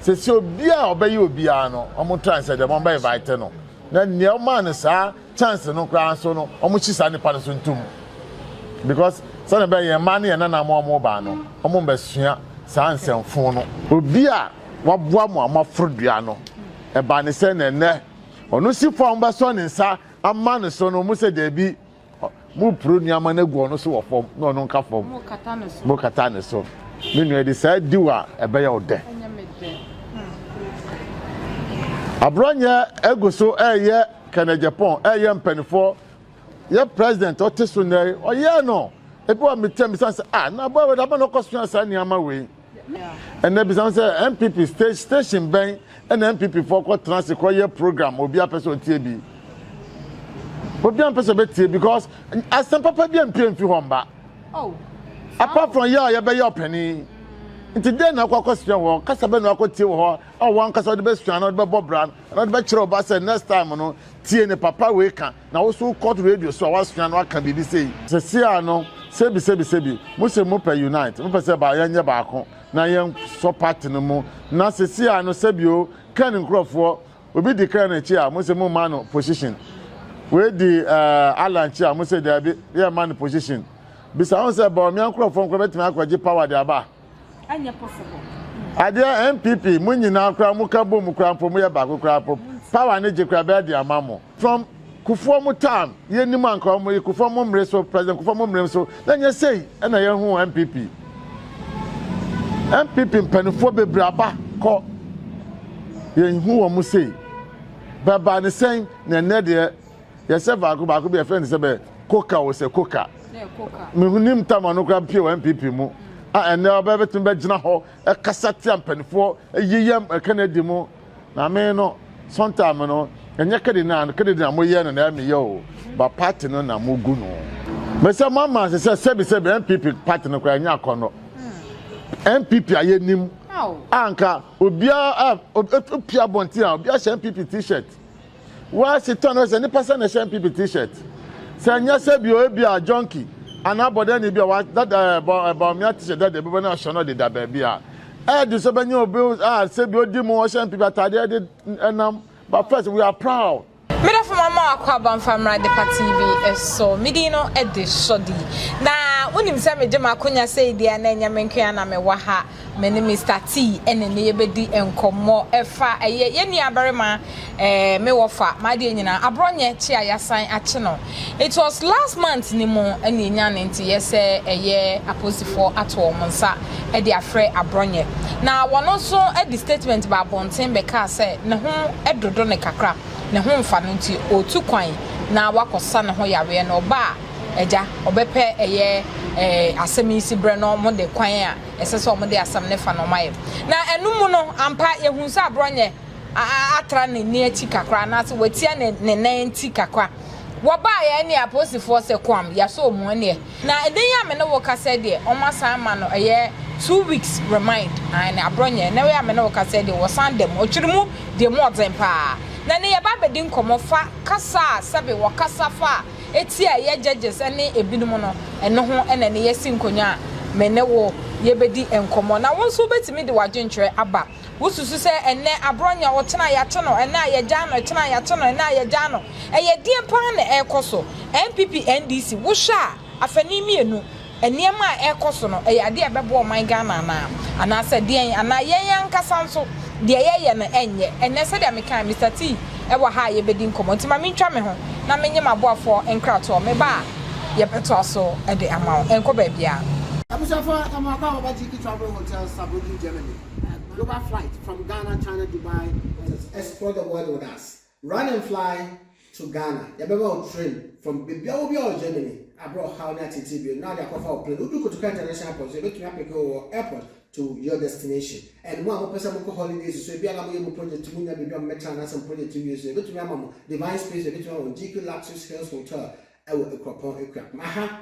Sese obia a ɔbɛyɛ obiara no ɔmo try sɛ dɛm ɔmo bɛ invite no na nea ɔmaa no saa chance no koraa nso no ɔmo hyi saa nipa no so ntom because sɛnea ɛbɛyɛ yɛn mmaa ne yɛn nana mo a ɔmo baa no ɔmo mbɛ sua saa nsɛmfoo no. Obi a waboa mo a mo aforo dua no ɛbaa ne sɛn na ɛnɛ ɔno si fo a ɔmo bɛsɔ ne nsa ama no so no ɔmo sɛ daabi Moporo nneɛma no agu ɔno so wɔ fam na ɔno nka fam. Mokata ne so. Me nua de saa diw a ɛbɛyɛ wo dɛ. Aborɔnyɛ agu so ɛyɛ Kenneth Agyapong ɛyɛ mpanimfoɔ yɛ president ɔte so nnɛ ɔyɛ no ebi wɔ metia me sɛ ah na abɔ awɛde ama na ɔkɔ so saa nneɛma wei. Ɛnɛ bisa me sɛ NPP stage station bɛn ɛna NPP foɔ kɔ tena ase kɔ yɛ program obi apɛ sɛ ɔtie bi obi ampɛ sɛ ɔbɛtie because asɛm papa bi ampie mfi hɔ mba oh, apart from yɛ a yɛbɛyɛ ɔpani nti dɛn na akɔ akɔsua hɔ kasa bɛ na akɔtie wɔ hɔ a wɔn ankasa ɔde bɛsua na ɔde bɛbɔ bra na ɔde bɛkyerɛ ɔba sɛ next time no tie ne papa wei ka Na wo so wo kɔt radio so a wasua no aka biribi sei. Sesiaa no sebi sebi sebi mo se mo pɛ unite mo pɛ sɛ ba yɛn nyɛ baako na yɛn sɔ party no mu na sesiaa no sebi o ken nkorɔfoɔ obi di ken akyi a mo se mo ma no position wei di eh Alan akyi a mo se daabi yɛn ma no position bisa ho sɛ Bawumia nkorɔfoɔ nkorɔ bɛtumi akɔ gye power de aba. ɛnyɛ possible. Adeɛ NPP mo nyinaa koraa mo ka bom koraa mpo mo yɛ baako koraa mpo power ne gye koraa bɛɛ de ama mo from kufuɔ mo time yɛ nim anka ɔmo yi kufuɔ mo mmere so president kufuɔ mo mmere so na nyɛ sei ɛna yɛ hu NPP NPP mpanifoɔ bebree aba kɔ yɛn hu wɔn sei bɛba ne sɛn na ɛnɛ deɛ yɛsɛ baako baako bi yɛfrɛ no sɛ bɛ koka o sɛ koka menim tama no koraa pie wɔ npp mu a ɛnɛ ɔbɛ bɛtumi bɛgyina hɔ ɛkasa tia mpanimfoɔ ɛyiyam ɛka no adi mu na me no sɔntaame no ɛnyɛ kɛde na kɛde na moyɛ no na ɛmeyɛ o ba party no na mogu no mesɛ mo ama ase sɛ sɛbi sɛbi npp party no koraa ɛnyɛ akɔnnɔ npp a yɛnim anka obiara a opia bɔnten a obiara hyɛ npp t-shirt West tɔ no sɛ nipa sɛ na ɛhyɛ npp t-shirt. Sɛ ɛnyɛ sɛ bi ebi a junkie anaa bɔdɛni bi a wa dada ɛbɔ ɛbɔ mmea t-shirt dada bi bɔ na ɔhyɛ no de da baabi a. Ɛɛdi so bɛnyɛ obi a sɛ bi odi mu ɔhyɛ npp ataade ɛde ɛnam but first we are proud. Me dɔfo mama wakɔ aba mfa mmra Depa TV so. Me din no de Shordy. Na wonim sɛ megye m'akonya sei deɛ na ɛnyɛ me nko ara na mewɔ ha. Me ne Mister T ɛne ne yɛ bɛdi nkɔmmɔ ɛfa ɛyɛ yɛ nua barima ɛɛ me wɔ fa m'adeɛ nyinaa aborɔ nyɛ kye a yasan akye no it was last month ne mu ɛne yɛ nya ne nte yɛ sɛ ɛyɛ aposifoɔ ato wɔn nsa ɛde afrɛ aborɔ nyɛ na wɔn nso ɛde statement ba abɔnten bɛkaa sɛ ne ho ɛdodo ne kakra ne ho nfa no nti ɔtu kwan na wakɔ sa ne ho yareɛ no ɔba a ɛgya ɔbɛpɛ ɛyɛ ɛɛ asɛm yi si berɛ no wɔn de kwan a Ɛsɛ sɛ wɔde asɛm no fa na wɔayɛ. Na ɛno mu no, ampa, yɛhunu sɛ aborɔnyɛ atra ne nne akyi kakra, anaasɛ watia ne ne nan nti kakra. Wɔbaeɛ ɛnneɛ apolisifoɔ sɛ, Koam, yɛasɔ wɔn mu ɛnneɛ. Na ɛnnɛ yi a me ne wo rekasa yi deɛ, wɔasan ama no ɛyɛ two weeks remand, aane, aborɔnyɛ. Ɛnnɛ yi a me ne wo rekasa yi deɛ, wɔsan da mu. Ɔkyere mu deɛ mu ɔden pa ara. Na ɛnnɛ yɛreba abɛdi nkɔmmɔ fa kasa a sɛbe wɔkasa fa Ti a ɛyɛ gyɛgyes ne ebinom no, ɛno ho na ɛne yɛ asi nkonnwa a me ne wo yɛbɛdi nkɔmmɔ. Na wo nso wobɛtumi de w'adwenkyerɛ aba. Wosusu sɛ ɛnnɛ aborɔ nyɛ o, tena a yɛate no, ɛnnɛ a yɛagyae no, tena a yɛate no, ɛnnɛ a yɛagyae no. Ɛyɛ deɛn pa ara na ɛrekɔ so? NPP, NDC, wohwɛ a, afanu mmienu. Nneɛma a ɛrekɔ so no, ɛyɛ adeɛ a ɛbɛboa ɔman Ghana anaa? Anaasɛ deɛn? Anaa yɛn ankasa nso, deɛ yɛreyɛ no ɛnyɛ? Ɛnnɛ, sɛdeɛ mekaeɛ, Mister T. wɔ ha a yɛbɛdi nkɔmmɔ, nti ma mentwa me ho na menye m'aboafoɔ nkratoɔ. Meba a, yɛbɛtoa so de ama wo. Ɛnkɔ baabiara. Abusuafoɔ, yɛka mo aba Baba Gyiki Travel Hotel Saarbrücken Germany. Global flight from Ghana, China, Dubai, Texas. Explore the world with us. Run and fly to Ghana, yɛbɛma wo train from baabiara wɔ biara wɔ Germany a berɛ a ɔhaw ne ateetee bio no na wɔde akɔfa wo plane. Wodu Kotoka International Airport nso yɛbɛtumi apeke wo wɔ airport to your destination. And mo a mopɛ sɛ mokɔ holidays nso, ebia na moyɛ mo project mu nya baabi a mommɛtena anaasɛ mo project wie nso a, yɛbɛtumi ama mo Divine Space, yɛbɛtumi ama mo GP Luxuries Hills Hotel wɔ Akuapɔn, Akuapem. Aha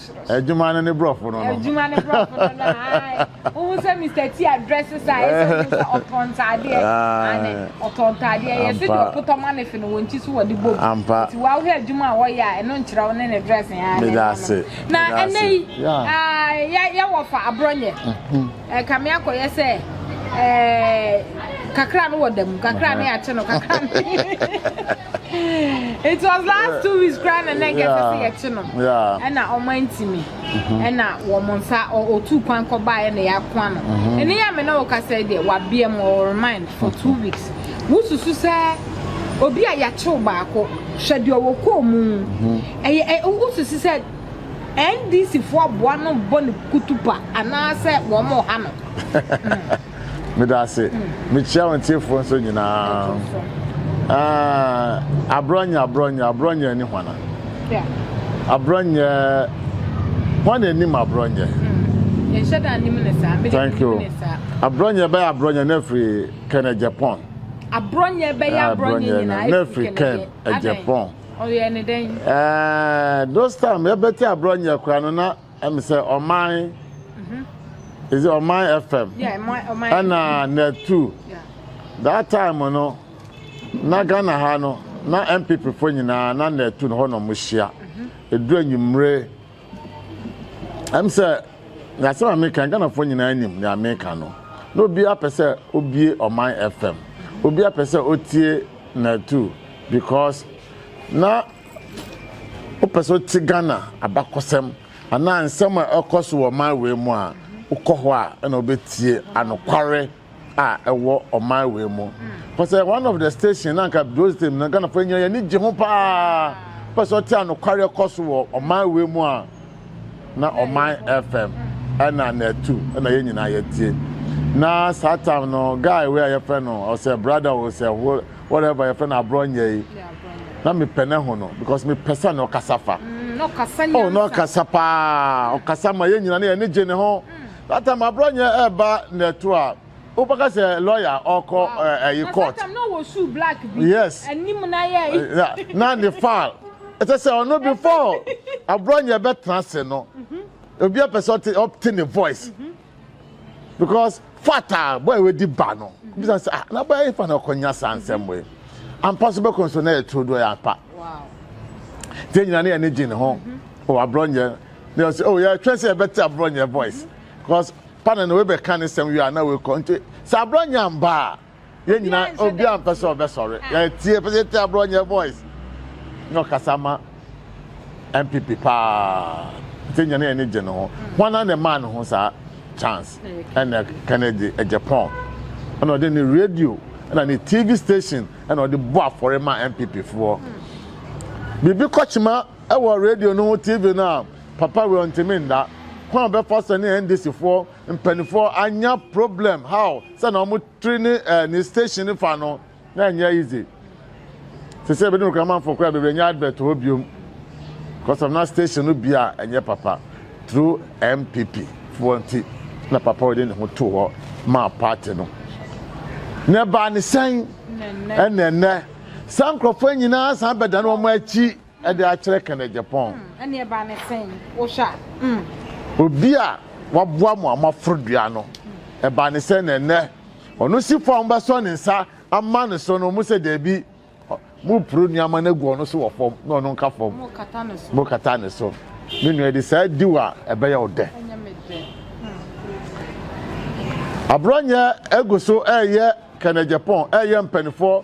Adwuma no ne brɔfo no no. Adwuma ne brɔfo no no ae. Wohu sɛ Mr. T address sa ayɛ sɛ wohu sɛ ɔtɔn ntaadeɛ. Ane ɔtɔn ntaadeɛ. Yɛ sɛ deɛ ɔpotɔ ma ne fe no wɔn ti so wɔde bom. Ampa. Nti woahwɛ adwuma a wɔyɛ a ɛno nkyerɛ wo ne ne dress yɛn ane. Meda ase. Na ɛnɛ yi yɛwɔ fa aborɔnyɛ. Ɛkame akɔyɛ sɛ ɛɛ kakra no wɔ da mu kakra no yɛakye no kakra no. it was last two weeks kura na na nkɛ sɛ yɛkye no ɛna ɔmo antimi ɛna wɔn nsa ɔtu kwan kɔ baa ɛna yɛako ano ɛne yɛ mene ɔkasa deɛ wabea mu ɔremind for two weeks wosusu sɛ obi a yɛakyew baako hwɛ deɛ ɔwɔ kɔɔ mu ɛyɛ wosusu sɛ ndc foɔ aboa no bɔ ne kutupa anaasɛ wɔn ɔha no Meda ase. Mekyia wɔn tiefoɔ nso nyinaa. Uh, abrɔnyɛ, abrɔnyɛ, abrɔnyɛ ni hwana. Abrɔnyɛ, hwan na anim abrɔnyɛ? Hmm. Yɛnhyɛ da anim ne saa. Thank you. Abrɔnyɛ bɛyɛ abrɔnyɛ na afiri Kenya, Japan. Abrɔnyɛ bɛyɛ ah, abrɔnyɛ nyinaa na afiri Kenya, Japan. Ɔyɛ ne dɛn? Eh, those time yɛbɛte abrɔnyɛ koraa no na Ɛm sɛ ɔman is it ɔman fm ɛna net two that time no na ghana ha no na npp fo nyinaa na net two no hɔ na ɔmo hyia edu enyimire ɛm sɛ yasɛm a meka ghana fo nyinaa nim nea meka no na obi apɛ sɛ obie ɔman fm obi apɛ sɛ otie net two because na Wopɛ sɛ wote Ghana abakɔsɛm anaa nsɛm a ɛkɔ so wɔ ɔman wei mu a, wokɔ hɔ a ɛna wobɛtie anokware a ɛwɔ ɔman wei mu. Wopɛ sɛ one of the station na anka Joe Stem na Ghanafoɔ nyina yɛni gye ho paa. Wopɛ sɛ wote anokware ɛkɔ so wɔ ɔman wei mu a, na ɔman fm ɛna na ɛtu ɛna yɛn nyinaa yɛtie na saa time no guy wei a yɛfrɛ no ɔsɛ brother o sɛ whatever yɛfrɛ no aborɔ nyɛ yi na mepɛ ne ho no because mepɛ sɛ na ɔkasa fa mm, oh na ɔkasa paa ɔkasa ma yɛn nyinaa na yɛn ani gye ne ho mm. that time aborɔ nyɛ ɛba na ɛto a Wobɛka sɛ lɔya a ɔkɔ ɛyi court. Yes. Na ne file. Ɛsɛ sɛ ɔno before aborɔ nyɛ bɛtena ase no. Mhm. Obi apɛ sɛ ɔte ɔte ne voice. Mhm. Because fata boy wedi ba no. Mhm. Bisa sɛ ah na boy efa na ɔkɔnya saa nsɛm wei. Ampa so bɛkɔ nso na yɛ turo do yɛ ampa. Wow. Te nyina ne yɛ ne gye ne ho. Wɔ aborɔ nyɛ. Ne yɛ sɛ oh yɛ twɛ sɛ yɛbɛte aborɔ nyɛ voice. Because pa na na wei bɛka ne sɛm wie a na wei kɔ nti sɛ aborɔ nya mba a yɛn nyinaa obi a mpɛ sɛ ɔbɛsɔre yɛtie pɛ sɛ yɛtie aborɔ nyɛ voice na ɔkasa ma npp paa nti nyɛ ne yɛn ne gye ne ho hwana ne maa ne ho saa chance ɛna kennedy japan ɛna ɔde ne radio ɛna ne tv station ɛna ɔde bɔ afɔre ma npp foɔ biribi kɔkyema ɛwɔ radio no ho tv no a Papa wei ɔntimi nda. Kwan a ɔbɛfa so ne NDC foɔ mpaninfoɔ anya problem how sɛ na ɔmo tiri ne eh, ne station no fa no na ɛnyɛ easy. Sese ebinom kura manfoɔ kura bebree nyɛ advert hɔ biom because of na station no bia ɛnyɛ papa through MPP foɔ nti na papa ɔde ne ho to hɔ maa party no. Na ɛbaa ne sɛn ɛna ɛnɛ saa nkorɔfoɔ nyinaa san bɛdane wɔn akyi. de akyerɛ Ken Agyapong. Ɛnneɛ ba no sɛn wohwɛ a? Obi a waboa mo a moaforo dua no, ɛba no sɛn na ɛnnɛ ɔno si fam bɛsɔ ne nsa ama no so no, mosɛ daabi, mopro nneɛma no agu ɔno so wɔ fam na ɔno nka fam, mokata ne so. Me nua de saa di wo a ɛbɛyɛ wo dɛ. Aborɔnyɛ agu so ɛreyɛ Ken Agyapong, ɛreyɛ mpanimfoɔ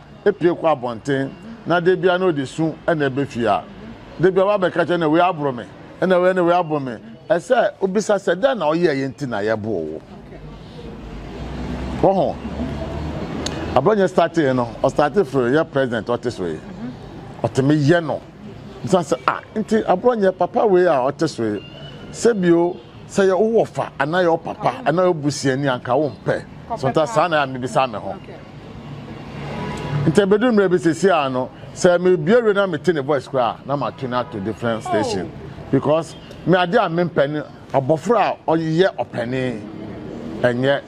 pue kɔ abɔnten na da biara na ɔde su na ɛba fie a, da biara woabɛka kyerɛ no wei aboro me, ɛna wei ne wei aboro me. Ɛsɛ sɛ wobisa sɛ dɛn na woyɛeɛ nti na yɛboo wo. Wɔho, abrɔnyɛ startee no, ɔstate firi yɛ president ɔte so yi, ɔtumi yɛ no. Bisa sɛ, ah, nti abrɔnyɛ papa wei a ɔte so yi, sɛ bio, sɛ yɛ wowɔ fa anaa yɛ wo papa anaa yɛ wo busuani anka wompɛ. Sometimes saa na yɛ a mebisa me ho. Nti ebedu mmerɛ bi sisi a no sɛ mebue radio na mete ne voice koraa a na ma tune ato different station because me adeɛ a mempɛ ne abɔfra a ɔyɛ ɔpɛne ɛnyɛ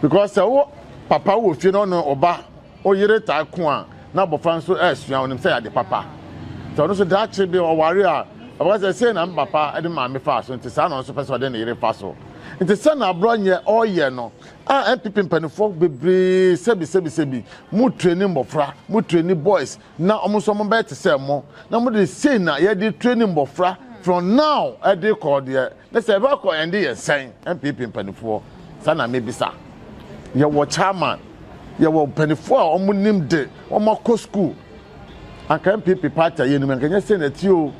because sɛ wo papa wɔ fie na ɔne ɔba ɔyere taa ko a na abɔfra nso ɛresua ɔnim sɛ yɛade papa sɛ ɔno nso daakye bi ɔware a ɔbɛka sɛ sei na me papa de maame faa so nti saa na ɔno nso pɛ sɛ ɔde ne yere fa so nti sɛ na aborɔ nyɛ ɔyɛ no A NPP mpaninfoɔ bebree sɛbi sɛbi sɛbi mo treni mmɔfra mo treni boys na ɔmo nso ɔmo bɛyɛ te sɛ mo na mo de sei na yɛde treni mmɔfra from now ɛde kɔ deɛ ne sɛ ɛbɛ kɔ ɛnde yɛn sɛn NPP mpaninfoɔ saa na mebisa yɛwɔ chairman yɛwɔ mpaninfoɔ a ɔmo nim de ɔmo akɔ school anka NPP party a yɛnim anka nyɛ sɛ na ti o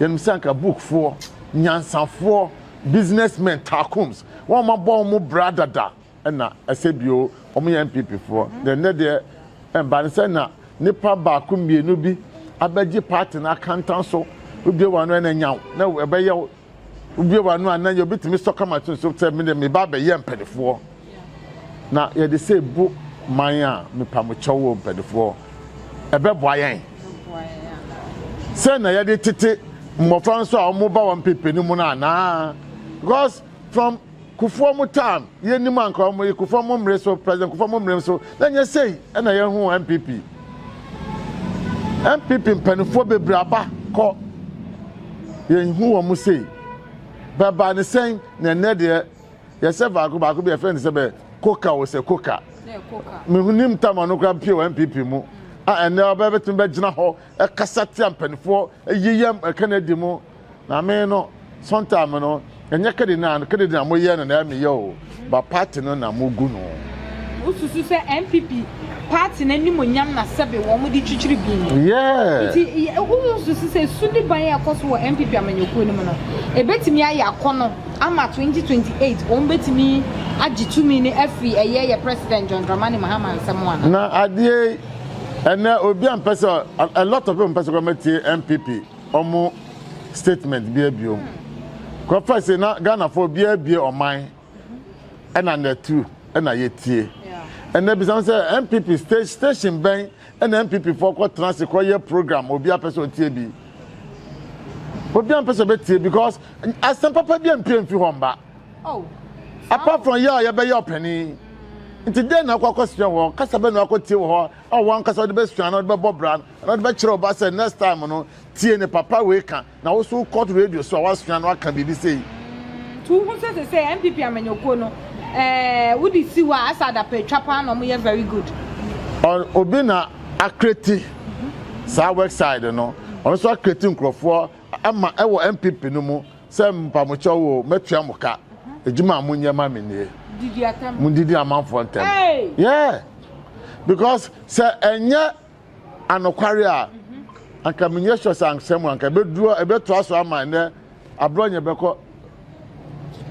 yɛnim sɛ anka bookfoɔ nyansafoɔ Business men Tarkums wɔn abɔ wɔn bra dada ɛna ɛsɛ bio wɔn yɛ NPP foɔ deɛ nnɛ deɛ ɛnba ne sɛ na nipa baako mmienu bi abɛgye party no akantan so wobie wɔn ano ɛna nyaw na ɛbɛyɛ wobie wɔn ano a na yɛ obi tumi sɔ kama to nso sɛ me deɛ meba abɛyɛ mpanifoɔ. Na yɛde sɛ bu man a mepamokyɛw o mpanimfoɔ ɛbɛboa yɛn sɛ na yɛde tete mmɔfra nso a wɔn ba wɔn pepe no mu no anaa because from kufuɔ mu time yɛn nim anka wɔn yi kufuɔ mu mmere so president kufuɔ mu mmere so na nyɛ sɛyi ɛna yɛn ho npp npp mpanimfoɔ bebree aba kɔ yɛn ho wɔn mu sei bɛba ne sɛn na ɛnɛ deɛ Yɛsɛ baako baako bi yɛfrɛ no sɛ bɛ koka o sɛ koka. Mehunim tama no koraa mpie wɔ NPP mu a ɛnɛ ɔbɛ bɛtumi bɛgyina hɔ ɛkasa tia mpanimfoɔ ɛyeyam ɛka no adi mu na me no sometime no ɛnyɛ kɛde na kɛde na moyɛ no na ɛmeyɛ o ba party no na mogu no. Wosusu sɛ NPP party no animuonyam na sɛbe wɔde kyikyiri bi. Yeah. Nti wonsusu sɛ sudiban a ɛkɔ so wɔ NPP amanyɔkuo no mu no, ɛbɛtumi ayɛ akɔnɔ ama 2028 wɔn bɛtumi agye tumi no afiri ɛyɛ yɛ President John Dramani Mahama nsam anaa? Na adeɛ yi, ɛnɛ obi a mpɛ sɛ, a lot of people mpɛ sɛ wɔbɛtie NPP wɔn statement bi abiom. Kɔfa se na Ghanafoɔ obiara bie ɔman. ɛna na tru ɛna yɛtie ɛnɛ bisam sɛ npp station bɛn ɛna npp foɔ kɔ tena ase kɔ yɛ program obi apɛ sɛ ɔtie bi obi ampɛ sɛ ɔbɛtie because asɛm papa bi ampie mfi hɔ mba oh, apart from yɛ a yɛbɛyɛ ɔpani nti dɛn na akɔ akɔsua wɔ hɔ kasa bɛ na akɔ tie wɔ hɔ a wɔn ankasa ɔde bɛsua na ɔde bɛbɔ bra na ɔde bɛkyerɛ ɔba sɛ next time no tie ne papa wei ka Na wo so wokɔto radio so a woasua no aka biribi sei. To ho sɛ sesei NPP amanyɔkuo no eh, wode si hɔ a asɛ adapa atwa paa na wɔyɛ very good. Ɔn obi na akreti saa wexside no, ɔno nso akreti nkurɔfoɔ ama ɛwɔ NPP no mu sɛ mpamokyɛw o, mɛtua mo ka, adwuma a monyɛ ma me nie. Didi atam. Mundidi amanfoɔ ntɛm. Hey! Yeah! Because sɛ ɛnyɛ anokware a, anka menyɛ sure sɛ ansa mu anka ɛbɛduru ɛbɛtoa so ama ɛnɛ aberɛ ɔnyɛ bɛkɔ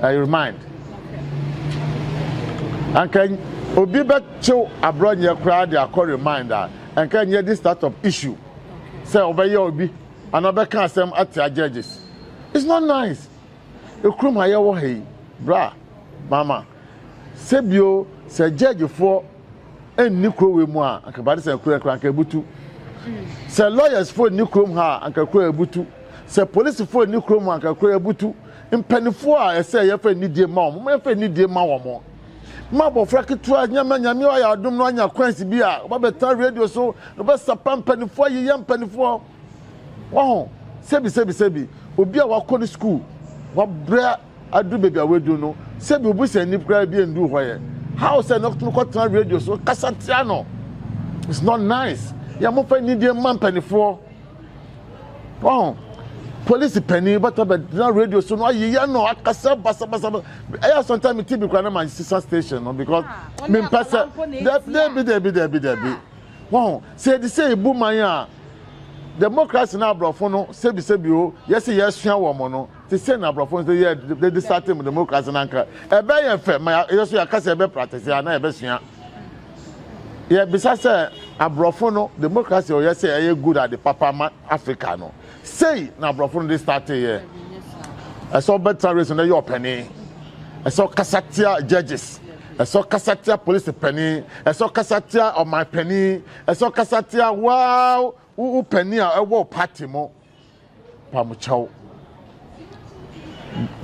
I remind anka obi bɛkyew aberɛ ɔnyɛ koraa de akɔ remind a anka ɛnyɛ de start up issue sɛ ɔbɛyɛ obi anaa ɔbɛka asɛm atia judges it's not nice ekurom ha yɛwɔ ha yi bra mama. Sɛ bio, sɛ gyɛɛgyefoɔ nni kuro wei mu a, anka bade sɛ kuro kora anka ebutu. Sɛ lɔyɛsfoɔ nni kurom ha a, anka kuro ebutu. Sɛ polisifoɔ nni kurom a, anka kuro ebutu. Mpanimfoɔ a ɛsɛ yɛfa anidie ma wɔn, momma yɛfa anidie ma wɔn. Ma abɔfra ketewa nyama nyame ayɛ adom no anya coins bi a, ɔba bɛtena radio so, na ɔbɛsapa mpanimfoɔ, ayeyɛ mpanimfoɔ. Waho, sɛbi sɛbi sɛbi, obi a wakɔ ne sukuu, wabrɛ Adu baabi a wadu no, sɛbi obusani koraa bi nduu hɔ yɛ. How sɛ no tumi kɔtena radio so kasa tia no. It's not nice. Yɛ mo fa nidie mma mpanifoɔ. Wɔn polisi panin bɛtɔ bɛgyina radio so no ayeyɛ no akasa basabasa. Ɛyɛ asɔnta mi TV koraa na ma sisa station no because mi mpɛ sɛ dɛbi dɛbi dɛbi dɛbi. Wɔn sɛ yɛde sɛ ebu man a democracy na aborɔfo no sɛbi sɛbi o yɛsi yɛsua wɔn no. te sɛ na aborɔfo nso yɛ de de sate mu demokrasi no anka ɛbɛyɛ yɛn fɛ ma yɛ so yɛaka sɛ ɛbɛ practice a na yɛbɛsua yɛbisa sɛ aborɔfo no demokrasi a ɔyɛ sɛ ɛyɛ good ade papa ma africa no sei na aborɔfo no de state yɛ ɛsɛ ɔbɛtena race no yɛ ɔpɛne ɛsɛ ɔkasa tia judges ɛsɛ ɔkasa tia polisi panin ɛsɛ ɔkasa tia ɔman panin ɛsɛ ɔkasa tia waa wo panin a ɛwɔ pati mu Pamkyɛw,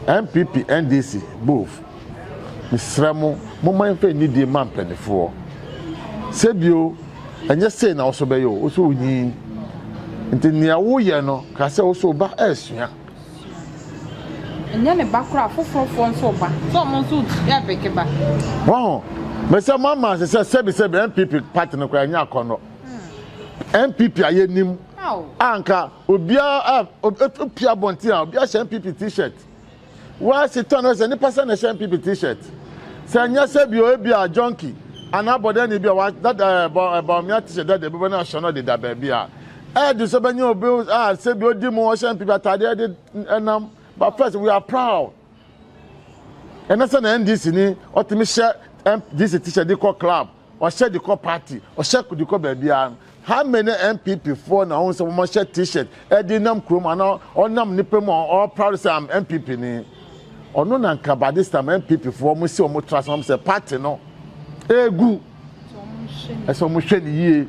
NPP, NDC, both, mesrɛ mo, momma yɛmfa anidie mma mpaninfoɔ. Sɛbio, ɛnyɛ sei na wosɔ bɛyɛ o, wosɔ wonyin. Nti nea woyɛ no, ka sɛ wosɔ ba ɛresua. Ɛnyɛ ne ba koraa, foforofoɔ nso ba, sɛ ɔmo nso yɛ beke ba. Waho, mesɛ mo amanse sɛ sɛbisɛbi NPP party no koraa ɛnyɛ akɔnnɔ. NPP a yɛnim. a nka obiara a pia abɔnten a obiara hyɛ npp t-shirt wɔasi tɔn no sɛ nipa sɛ na ɛhyɛ npp t-shirt sɛ nyɛ sɛ bi obi a junkie anaa abɔdani bi a wadada ɛbɔ ɛbɔ mmea t-shirt dada ebi bɛ na ahyɛ no deda baabi a ɛdi sɛ bɛnyɛ obi a sɛ bi odi mu ɔhyɛ npp ataadeɛ de ɛnam but first we are proud ɛnɛ sɛ na ndc ni ɔtumi hyɛ ndc t-shirt de kɔ club Ɔhyɛ de kɔ party, ɔhyɛ de kɔ baabiara no, how many NPP foɔ na wohu sɛ wɔhyɛ T-shirt de nam kurom anaa ɔnam nnipa mu a ɔwɔ proud sɛ I'm NPP ni? Ɔno na nka by this time NPP foɔ wɔn si wɔn tra so wɔn sɛ party no egu, ɛsɛ wɔn hwɛ ne yie.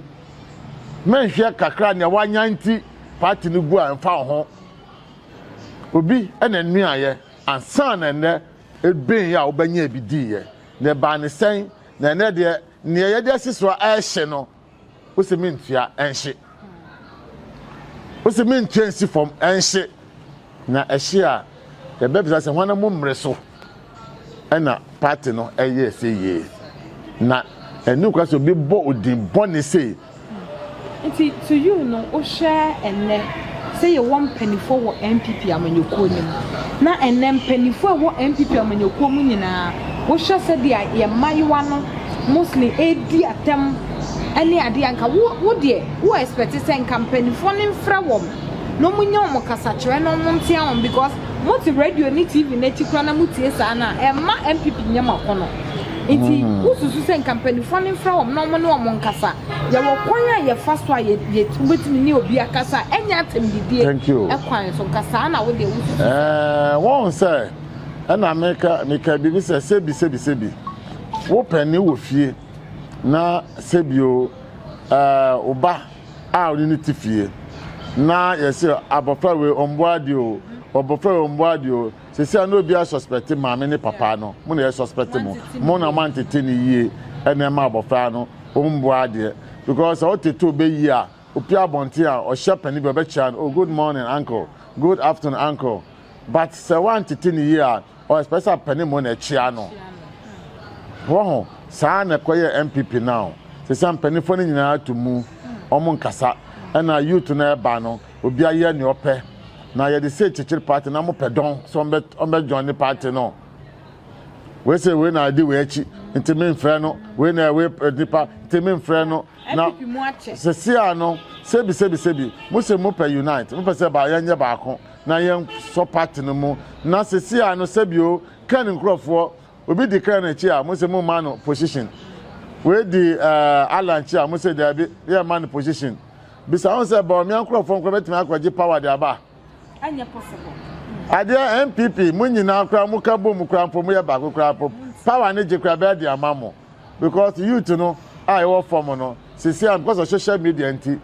Mɛnhwɛ kakra nea wanya nti party no gu a ɛmfa wo ho. Obi na nnuaeɛ ansa na nnɛ ebeen yɛ a wobɛnyɛ ebi diiɛ na ɛbaa ne sɛn? na ɛnɛ deɛ nea yɛde asi so a ɛrehye no wosi mi ntua ɛnhye wosi mi ntua nsi fam ɛnhye na ɛhye a yɛbɛbisa sɛ wɔn mu mmere so ɛna paati no ɛyɛ ɛsɛ yie na ɛnu kura sɛ obi bɔ odin bɔ ne sei. Nti to you no wohwɛ ɛnnɛ sɛ yɛwɔ mpaninfoɔ wɔ NPP amanyɔkuo no mu na ɛnnɛ mpaninfoɔ a ɛwɔ NPP amanyɔkuo mu nyinaa wohwɛ sɛdeɛ yɛn mmayewa no mostly ɛredi atɛm ne adeɛ a nka wo wo deɛ wo expect sɛ nka mpaninfoɔ no mfrɛ wɔn na wɔn nyɛ wɔn kasakyerɛ na wɔn ntea wɔn because mote radio ne TV n'akyi koraa na motie saa no a ɛmma NPP nyɛ mo akɔnɔ. Nti wosusu sɛ nka mpanimfoɔ no mfrɛ wɔn na wɔn ne wɔn nkasa. Yɛwɔ kwan a yɛfa so a yɛ yɛ wobɛtumi ne obi akasa a ɛnyɛ atɛmdidie kwan so. Nka saa na wodeɛ wosusu. Ɛɛ wɔn sɛ ɛna meka meka biribi sɛ sebi sebi sebi wo pɛni wɔ fie na sebi o ɛɛ oba a ɔne ne ti fie na yɛsɛ abɔfra wei ɔmboa adeɛ o ɔbɔfra wei ɔmboa adeɛ o. sisi a na obi a suspect maame ne papa no mo na yɛ suspect mo mo na mo antete ne yie ɛna ɛma abɔfra no ɔmboa adeɛ because sɛ ɔtete ɔbɛ yie a opi abɔnten a ɔhyɛ pɛni bi ɔbɛkyia no oh good morning uncle good afternoon uncle but sɛ wantete ne yie a ɔ expect sɛ pɛni mo na ɛkyia no wɔ ho saa na ɛkɔ yɛ npp now sisi a mpanyinfoɔ no nyinaa to mu ɔmo nkasa ɛna youth no ɛba no Obia yɛ nea ɔpɛ na yɛde sei kyekyere party na mo pɛ dɔn sɛ ɔmbɛ ɔmbɛ join ne party no wei sɛ wei na ɛdi wei akyi nti me nfrɛ no wei na ɛwei eh, nipa nti me nfrɛ no na sɛsi a no sɛbi sɛbi sɛbi mo sɛ mo pɛ unite mo pɛ sɛ ba yɛnyɛ baako na yɛn sɔ party no mu na sɛsi a no sɛbi o kɛn nkorɔfoɔ obi di kɛn akyi a mo sɛ mo ma no position wei di ɛɛ eh, alanchi a mo sɛ dɛbi yɛ ma no position. Bisa ho sɛ, Bawumia nkorɔfoɔ nkoraa bɛtumi akɔgye power de aba? Ɛnyɛ possible. Adeɛ NPP, mo nyinaa koraa mo ka bom koraa mpo, mo yɛ baako koraa mpo, power no gye koraa bɛyɛ de ama mo. Because youth no a yɛwɔ fam no, sisi a because of social media nti,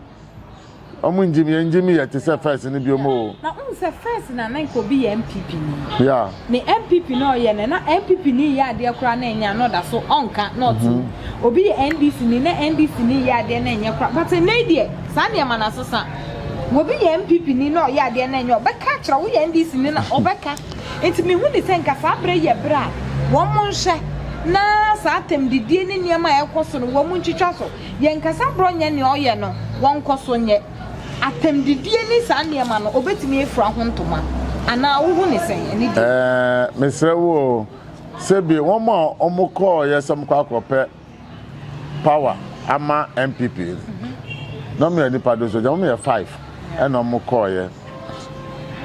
wɔn ngyim, yɛn ngyim yɛ te sɛ first no biom oo. Na wohu sɛ first na na nka obi yɛ NPP ni. Yeah. ne NPP na ɔyɛ no na NPP ni yɛ adeɛ koraa na ɛnyɛ a na ɔda so ɔnka na ɔte mu. Obi yɛ NDC ni na NDC ni yɛ adeɛ na ɛnyɛ koraa but ɛnnɛ yi deɛ saa nneɛma no asesa. Obi yɛ NPP ni na ɔyɛ adeɛ na ɛnyɛ a ɔbɛka akyerɛ wo, woyɛ NDC ni na ɔbɛka. Nti mehu ne sɛ nka saa berɛ yi yɛ berɛ a wɔn nhwɛ na saa atɛmdidie ne nneɛma a ɛrekɔ so no wɔn ntwitwa so. Yɛnkasa borɔ nyɛ nea ɔyɛ no wɔnkɔ so nyɛ. Atɛmdidie ne saa nneɛma no, ɔbɛtumi afira ho ntoma anaa wohu ne sɛn? Ɛne deɛ. Ɛɛ, mesrɛ wo o, sɛbi wɔn a wɔkɔɔeɛ sɛ wɔkɔ akɔpɛ power ama NPP na wɔyɛ nnipa doso gya, wɔyɛ five ɛna wɔkɔɔeɛ.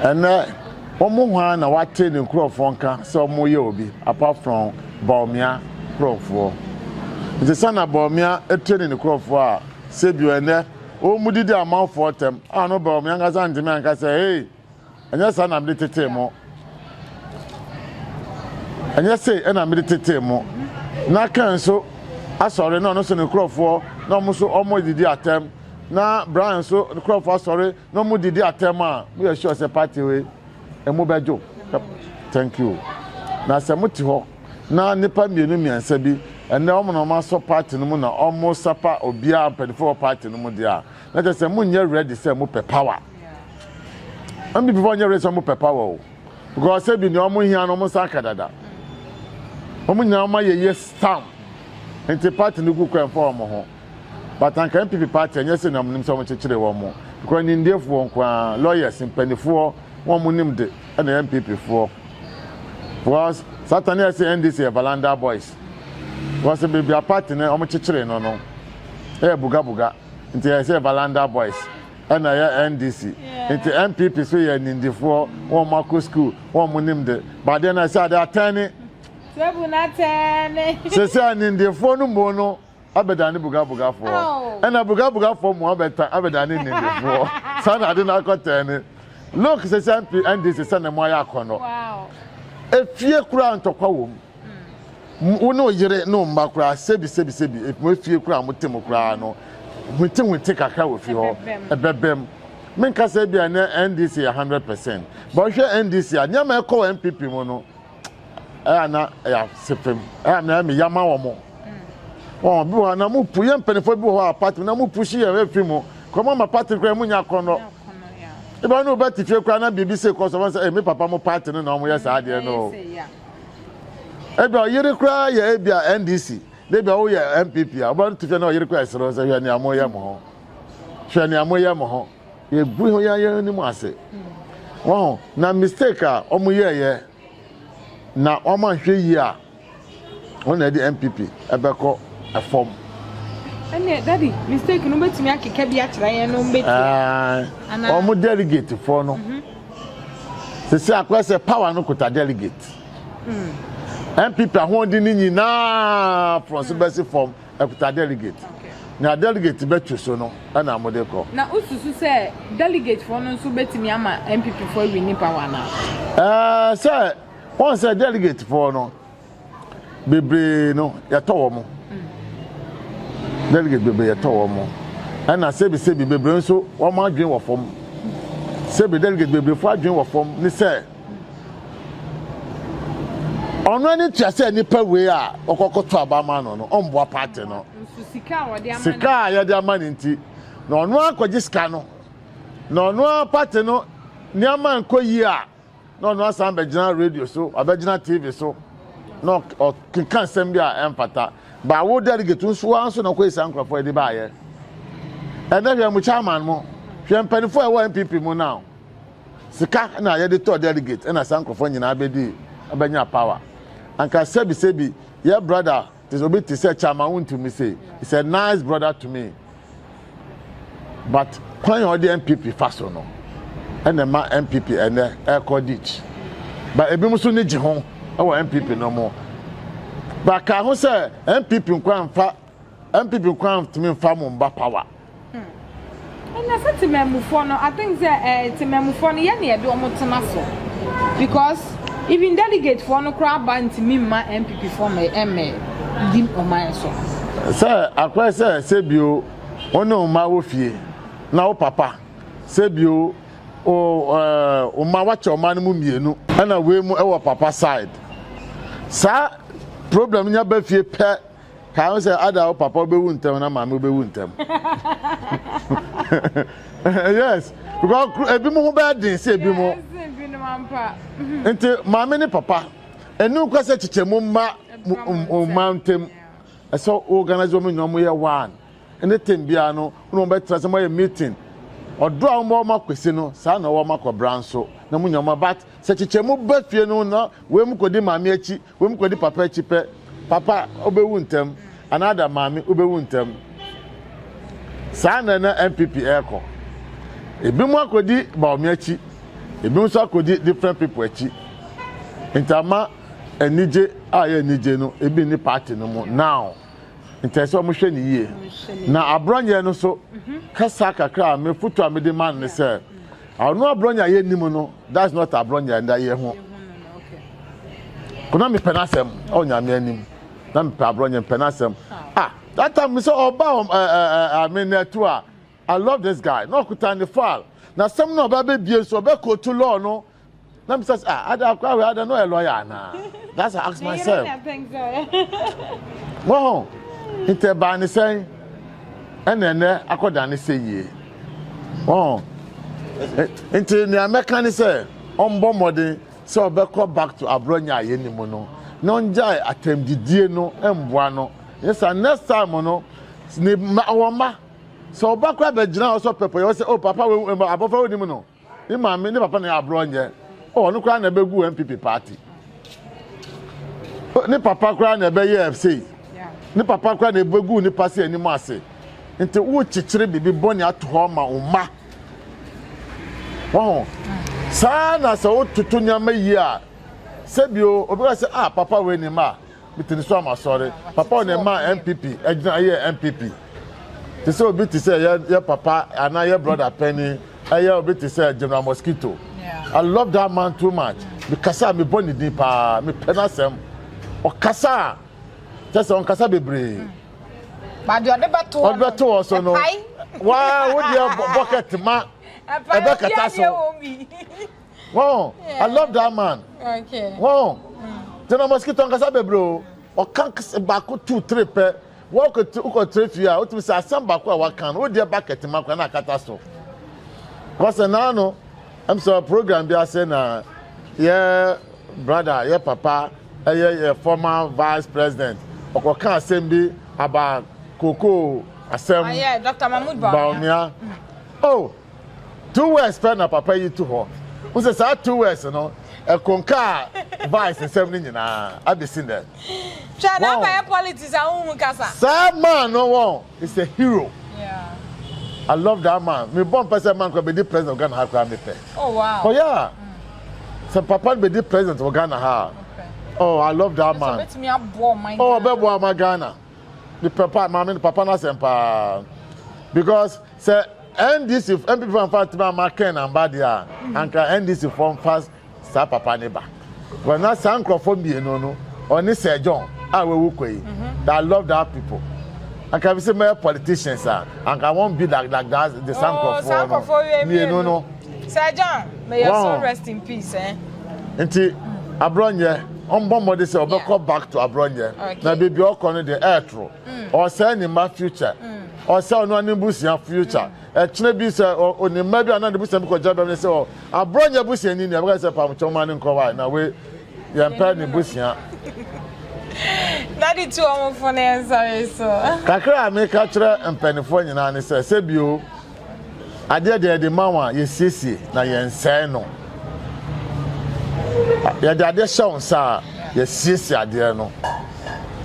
Ɛnɛ, wɔn hwan na wate ne nkurɔfoɔ nka sɛ wɔyɛ obi apart from Bawumia nkurɔfoɔ? Nti sɛ na Bawumia ɛtire ne nkurɔfoɔ a, sɛbi ɛnɛ. Wɔn mu didi amanfoɔ ntɛm, a no bɛ wɔn ankasa ntumi anka sɛ, Ei, ɛnyɛ saa na mede tetee mo, ɛnyɛ sei na mede tetee mo. Na Kain nso asɔre, na ɔno nso ne nkurɔfoɔ, na wɔn nso wɔdidi atɛm, na Brian nso nkurɔfoɔ asɔre, na wɔdidi atɛm a, moyɛ sure sɛ party wei, emu bɛdwo. Thank you. Na sɛ mote hɔ na nnipa mmienu mmiɛnsa bi ɛnɛ wɔn na wɔasɔ party no mu na wɔresapa obiara mpanyinfoɔ wɔ party no mu deɛ a, na kyerɛ sɛ monyɛ ready sɛ mopɛ power. NPP foɔ nyɛ ready sɛ mopɛ power o. Because sɛ bi nea wɔn hia no wɔn nsa aka dada. Wɔn nyinaa wɔn ayɛ yes stamp. Nti party no gu kɔ ɛmfa wɔn ho. but anka NPP party ɛnyɛ sɛ na wɔnim sɛ wɔn kyekyere wɔn mo because nimdeɛfoɔ nko ara lawyers mpanifoɔ wɔn mo nim de ɛna yɛ NPP foɔ because satan yɛ sɛ NDC yɛ Valanda boys because beebi a party no wɔn kyekyere no no ɛyɛ bugabuga nti yɛ sɛ Valanda boys ɛna yɛ NDC nti NPP so yɛ nindifoɔ wɔn mo akɔ school wɔn mo nim de baadeɛ na ɛsɛ ade atɛn ne sɛ sɛ nindifoɔ no mo no. abɛdane bogabogafoɔ, ɛna bogabogafoɔ mu abɛta abɛdane nnidifoɔ. Saa na ade no akɔtɛɛ ne. Look sɛsi MP NDC sɛ na mu ayɛ akɔnɔ. Efie koraa ntɔkwa wɔ mu. Hmm. Wo ne wo yere ne wo mma koraa sebi sebi sebi mo efie koraa mo te mu koraa no hwete hwete kakra wɔ fi hɔ ɛbɛbɛm. Menkasa bi a ne NDC yɛ 100 percent. But hwɛ NDC a nneɛma ɛkɔ wɔ NPP mu no ɛyɛ na ɛyɛ asepem ɛyɛ na ɛmi yama wɔn mo wɔn bi wɔ hɔ na mo pu yɛ mpanyinfoɔ bi wɔ hɔ a pati na mo pu si yɛ efi mu kura mo ama pati kura mo nya akɔnɔ ebi wɔn bɛ ti fie kura na biribi se kɔ so wɔn sɛ ɛmi papa mo pati no na wɔn yɛ saa adeɛ no ebi ɔyere kura yɛ ebi a ndc na ebi a wɔyɛ npp a wɔn ti fie na ɔyere kura ɛsoro sɛ hwɛ nea mo yɛ mo ho hwɛ nea mo yɛ mo ho. Yɛgu ho yɛn yɛn anim ase. Wɔn na mistake a wɔn yɛɛyɛ na wɔn ahwɛ yie a wɔn na ɛde NPP ɛbɛkɔ ɛfam. Ɛnna dadi mistake no bɛtumi akeka bi akyerɛ yɛn no bɛtua. Wɔn delegate foɔ no mhm. sisi akɔyɛ sɛ power no kuta delegate. NPP hmm. ahoɔden no nyinaa fɔnso bɛsi fam Ɛkuta delegate. Nea delegate bɛtu so no na mode kɔ. Na wosusu sɛ delegate foɔ no nso bɛtumi ama NPP foɔ awini power anaa? Ɛɛ sɛ wɔn sɛ delegate foɔ no bebree no yɛtɔ wɔn. Mm. Delegate bebree yɛtɔ wɔn. Ɛna sebi sebi bebree nso wɔn adwene wɔ fam. Sebi delegate bebree foɔ adwene wɔ fam ne sɛ. Ɔno ani tua sɛ nnipa wei a wɔkɔkoto aba ma no no ɔmboa paate no. Sika a yɛde ama no nti na ɔno akɔgye sika no. Na ɔno a paate no nneɛma nkɔ yie a na ɔno asan bɛgyina radio so, wabɛgyina TV so na ɔkeka nsɛm bi a ɛmfata. Ba wo delegate nso wa nso na ɔkɔyɛ saa nkurɔfoɔ de baayɛ. Ɛnɛ hwɛ mo chairman mo, hwɛ mpanimfoɔ a ɛwɔ NPP mu now. Sika na yɛde tɔɔ delegate ɛna saa nkorɔfoɔ nyinaa bɛdi bɛnya power. Anka sɛbi sɛbi yɛ brother te obi te sɛ Chairman Wontumi se is a nice brother to me but kwan a ɔde NPP fa so no ɛna ɛma NPP ɛnɛ ɛkɔ ditch. Ba ebinom nso ni gye ho ɛwɔ NPP no mo. Ba ka ho sɛ NPP nkoa nfa NPP koraa ntumi nfa mo mma power. Hmm. Ɛnna sɛ temamufoɔ no, I think sɛ ɛɛ eh, temamufoɔ no yɛ na yɛde wɔn tena so because even delegate foɔ no koraa ba ntumi mma NPP foɔ ma ɛmɛ di ɔman so. Sɛ akɔyɛ sɛ sɛ bio wɔn ne wɔn mma wɔ fie na wo papa sɛ bio ɔma wakyɛ ɔma no mu mmienu ɛna wei mu ɛwɔ papa side saa problem nya ba fie pɛ Kae ho sɛ, ada wo papa wobɛwu ntɛm na maame wobɛwu ntɛm. yes, because ebi mo ho bɛyɛ den sɛ ebi mo. Nti maame ne papa, ɛnu nkɔ sɛ kyekyɛ mu mma mma ntɛm. Ɛsɛ organize wɔn nyinaa mo yɛ one. Ɛne tem biara no, wɔn wɔn bɛtena sɛ mo yɛ meeting. Ɔdɔ a wɔn bɔ wɔn akwesi no, saa na wɔn akɔbra nso na mo nyinaa mo but sɛ kyekyɛ mu ba fie no na wɔn mu kɔdi maame akyi. Wom kɔ di papa akyi pɛ papa wobɛwu ntɛm anaa da maame wobɛwu ntɛm saa na na NPP ɛrekɔ ebi mu akɔdi Bawumia akyi ebi nso akɔdi different people akyi nti ama anigye a yɛ anigye no ebi ni party no mu now nti ɛsɛ wɔn hwɛ ne yie na aborɔnyɛ no so kasa kakra a mefutu a mede ma ne sɛ Ɔno abrɔnya yɛ nim no that's not abrɔnya nda yɛ ho. Kuna mepɛ n'asɛm ɔ nyame anim na mepɛ abrɔnya mepɛ n'asɛm. Ah that time mi sɛ ɔba ɔ ɛ ɛ ɛ ame na ɛto a I love this guy na ɔkuta ne file na sɛm na ɔba bɛ bie nso ɔbɛ koto law no na mi sɛ sɛ ah ada akora wɛ ada no yɛ lɔya anaa that's i ask myself wɔn nti ɛbaa ne sɛn ɛna ɛnɛ akɔda ne sɛ yie wɔn nti nea mɛka ne sɛ ɔmbɔ mmɔden sɛ ɔbɛkɔ back to aborɔ nya a yɛn mu no na ɔngyae atɛmdidie no mboa no yɛ sa next time no ne ma wɔn ma sɛ ɔba kora bɛgyina hɔ sɛ pɛpɛ yɛ wɔ sɛ o oh, papa wɔ abɔfra wɔ nim no. Ne maame ne papa na yɛ aborɔ nyɛ. Oh, ɔno koraa na ɛbɛgu NPP party. Ne papa koraa na ɛbɛyɛ sei. Ne papa koraa na ɛbɛgu ne pasi anim ase. Nti wokyekyere biribi bɔne ato hɔ ma wo mma. Wɔho. Saa na sɛ wototo nneɛma yie a, sɛbio obi ka sɛ, ah, papa wei ne mma a. Mete ne so ama sɔre. Papa wɔ na ɛmaa NPP ɛgyina ɛyɛ NPP. Te sɛ obi te sɛ yɛ yɛ papa anaa yɛ brother panyin ɛyɛ obi te sɛ General Mosquito. I love that man too much. Mekasa a mebɔ ne din paa, mepɛ n'asɛm. Ɔkasa a kyɛ sɛ ɔnkasa bebree. Ba deɛ ɔde bɛto hɔ no, ɔde bɛto hɔ so no. Waa wo deɛ bɔkɛt ma ɛbɛkata so. Oh, I love that man. Okay. Oh, the no mosquito nkasa bebre o. Ɔka baako two three pɛ. Wɔkɔ wokɔ three fie a wotumi sɛ asɛm baako a waka no wodeɛ bucket ma kora na akata so. Kɔsɛ naa no ɛm sɛ program bi ase na yɛ brother yɛ papa ɛyɛ yɛ former vice president ɔkɔka asɛm bi aba koko asɛm baomia. Oh, Two words pɛ na papa yi to hɔ. Wo sɛ saa two words no, ɛkonkaa Vice nsɛm no nyinaa abɛsi nnɛ. Hwɛ na aba yɛ politics a wohu kasa. Saa man no wɔn is a hero. Yeah. I love that man. Me bɔ mpɛ sɛ man kora bɛdi president of Ghana ha kora me pɛ. Oh wow. Oh yeah. Mm. Sɛ papa no bɛdi president wɔ Ghana ha. Okay. Oh I love that man. Oh bɛboa ma Ghana. ne papa maame ne papa no asɛm paa because sɛ ndc npp fo anfa ntoma ama ken na mba deɛ a anka ndc fo nfa saa papa ne ba because na saa nkurɔfoɔ mmienu no ɔne sir john a wawu kɔ yi mhm. i love that people anka bi sɛ mɛyɛ politicians a anka wɔn bi like like that de saa oh, nkurɔfoɔ no mmienu no. Sir John, may your soul rest in peace. Eh? Nti abrɔnyɛ ɔmbɔ mmɔde sɛ ɔbɛkɔ back to abrɔnyɛ na baabi a ɔkɔ no deɛ ɛɛtoro ɔsɛe ne mma future ɔsɛ ɔno ne busua future ɛkyena bi sɛ ɔne mma bi anaa ne busua bi kɔgya bɛm ne sɛ ɔ abrɔnyɛ busua ni nea bɛka sɛ pamkyɛw ma ne nkɔ wae na we yɛmpɛ ne busua Daddy tu ɔmo fone nsɔre so kakra a meka kyerɛ mpanimfoɔ nyinaa ne sɛ sɛ bio adeɛ deɛ yɛde ma wo a yɛsiesie na yɛnsɛe no yɛde adeɛ hyɛ wo nsa a yɛsiesie adeɛ no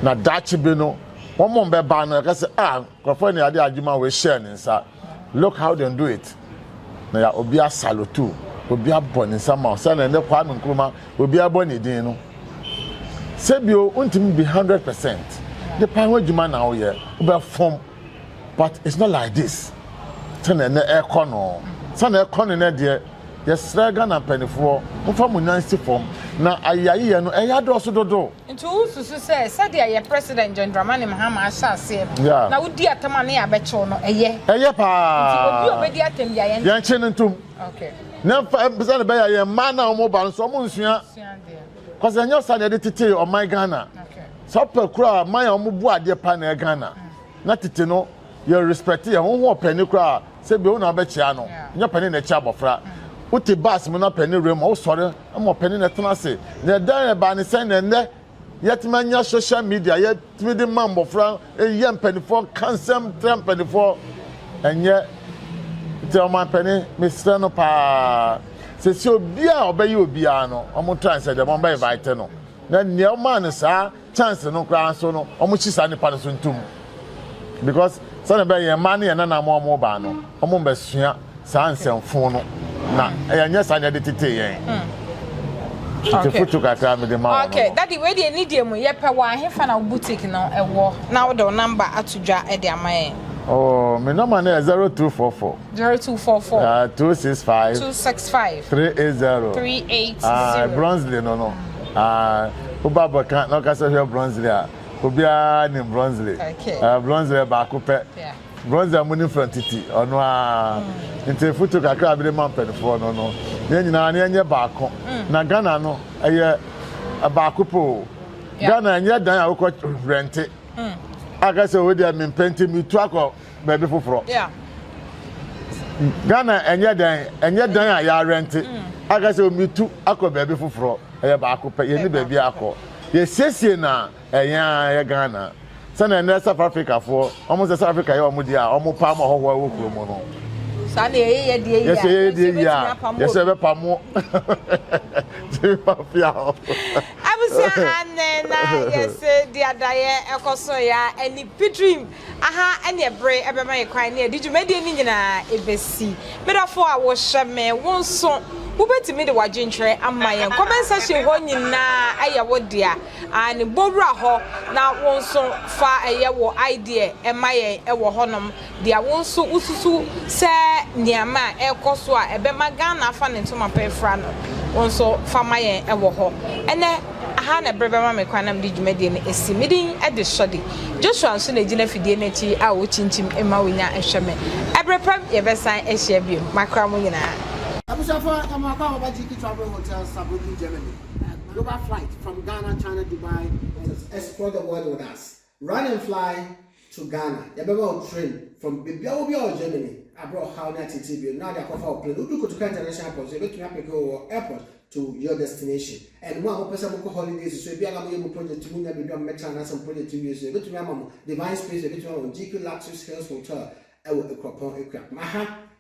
na daakye bi no wɔn mo bɛba no yɛka sɛ a ah, nkurɔfoɔ ne yɛde adwuma wei hyɛɛ ne nsa look how they do it na yɛ obi asalotu obi abɔ ne nsa ma wo sɛdeɛ ne Kwame Nkrumah obi abɔ ne din no sɛbio wontumi bi hundred percent nipa ho adwuma na woyɛ wobɛfom But it's not like this sɛnea ɛnɛ ɛrekɔ no. Sɛnea ɛrekɔ no nnɛ deɛ, yɛsrɛ Ghana mpanimfoɔ, momfa mo nan nsi fam na ayayeyɛ no ɛyɛ adɔɔso dodo. Nti wosusu sɛ sɛdeɛ yɛ President John Dramani Mahama ahyɛ aseɛ no, Yeah. na wodi atɛm a na yɛabɛkyew no, ɛyɛ? Ɛyɛ paa. Nti obi a obedi atɛm biara yɛn. Yɛnkye no ntom. Okay. Na ɛmfa sɛnea ɛbɛyɛ a yɛn mma no a wɔba no nso wɔnsua. Sua adeɛ. cause ɛnyɛ saa na yɛde tete ɔman ghana sɛ ɔpɛ koraa man a wɔn bu adeɛ pa na ɛyɛ ghana na tete no yɛ respect yɛ ho ho ɔpɛni koraa sɛ bi wo na ɔbɛkyia no nyɛ pɛni na ɛkyia abɔfra wote baasi mu na pɛni wura mu a wosɔre ma ɔpɛni na ɛtena ase na ɛdan ɛbaa ne sɛn na ɛnɛ yɛtumi anya social media yɛ tumi de ma mmɔfra yɛ mpanimfoɔ ka nsɛm kyerɛ mpanimfoɔ ɛnyɛ nti ɔmanpanin mesrɛ no paa sɛsi obi a ɔbɛyɛ obiara no wɔn try sɛ deɛ wɔn bɛ invite no na nea ɔmaa no saa chance no koraa nso no wɔn hyi saa nipa no so ntom because sɛdeɛ bɛyɛ yɛn mmaa ne yɛn nana mu wɔn baa no. Wɔmmɛsua saa nsɛmfoo no, na yɛnyɛ saa na yɛde tetee yɛn. Hmm. Tete foto kakra mede ma wɔn. Okay, dadi wei deɛ ni deɛ mu yɛpɛ wɔ ahefa na boutique no ɛwɔ na wode wo namba ato dwa de ama yɛn. Oh, my number no yɛ 0244. 0244. Uh, 265. 265. 380. 380. Ah, Bronsley no no. Ah, uh, Uba Bokan, no kasa here Bronsley. Ah, Ubia nim Bronsley. Okay. Uh, Bronsley baako pɛ. Yeah. Bronze a munim frɛ no tete, ɔno ara. Nti foto kakra a mede ma mpanimfoɔ no no, yɛn nyinaa na yɛnyɛ baako. Mm. Na Ghana no, ɛyɛ baako pɛ o. Ghana ɛnyɛ dan a wokɔ rɛnte. Mm. Aka sɛ wei deɛ mempɛ nti metu akɔ baabi foforɔ. Ghana ɛnyɛ dan, ɛnyɛ dan a yɛarɛnte. Mm. Aka sɛ metu akɔ baabi foforɔ. Ɛyɛ baako pɛ, yɛni baabi akɔ. Yɛsiesie na Yɛn ara yɛ Ghana. Sɛnea nnɛ South Africafoɔ, wɔn sɛ South Africa yɛ wɔn deɛ a, wɔn pam ahɔhoɔ a ɛwɔ kurom no. Saa na yɛyɛ yɛ deɛ yie a, yɛsɛ yɛyɛ deɛ yie a, yɛsɛ yɛbɛpa mo. Ti ma fia hɔ. Abusua ha nnɛ na yɛsɛ deɛ adayɛ ɛkɔ so yɛ a, ɛni pitrim. Aha ɛneɛ bere bɛma yɛ kwan ne yɛde dwumadie no nyinaa ɛbɛsi. Me dɔfoɔ a wohyɛ me, wo nso wobɛtumi de w'adwenkyerɛ ama yɛn. Comment section hɔ nyinaa ɛyɛ wo dea. Aane, bɔ wura hɔ na wo nso fa ɛyɛ wo idea ɛma yɛn ɛwɔ hɔnom. Deɛ wo nso wosusu sɛ nneɛma a ɛrekɔ so a ɛbɛma Ghana afa ne ntoma pa afira no, wo nso fa ma yɛn ɛwɔ hɔ. Ɛnɛ. Aha na bere bɛma me kwan na mede dwumadie no asi. Me din de Sɔde. Joshua nso na ɛgyina afidie no akyi a ɔkyinkyim ma wɔnya hwɛ me. Ɛberɛ pa bi yɛbɛsan ahyia bio. Makra mo nyinaa. Abusuafoɔ yɛka mo akɔ a wɔba GK Travel Hotel Saarbrücken Germany. Global flight from Ghana, China, Dubai to explore the world with us. Run and fly to Ghana, yɛbɛma wo train from baabiara wɔ biara wɔ Germany a berɛ a ɔhaw ne ateetee bio no na ɔde akɔfa wo plane. Wodu Kotoka International Airport nso yɛbɛtumi apeke wo wɔ airport to your destination. And mo a mopɛ sɛ mokɔ holidays nso ebia na moyɛ mo project mu nya baabi a mobɛtra anaasɛ mo project wie nso yɛbɛtumi ama mo Divine Space, yɛbɛtumi ama mo GQ Luxuries Hills Hotel wɔ Akuapɔn Akuapem. Aha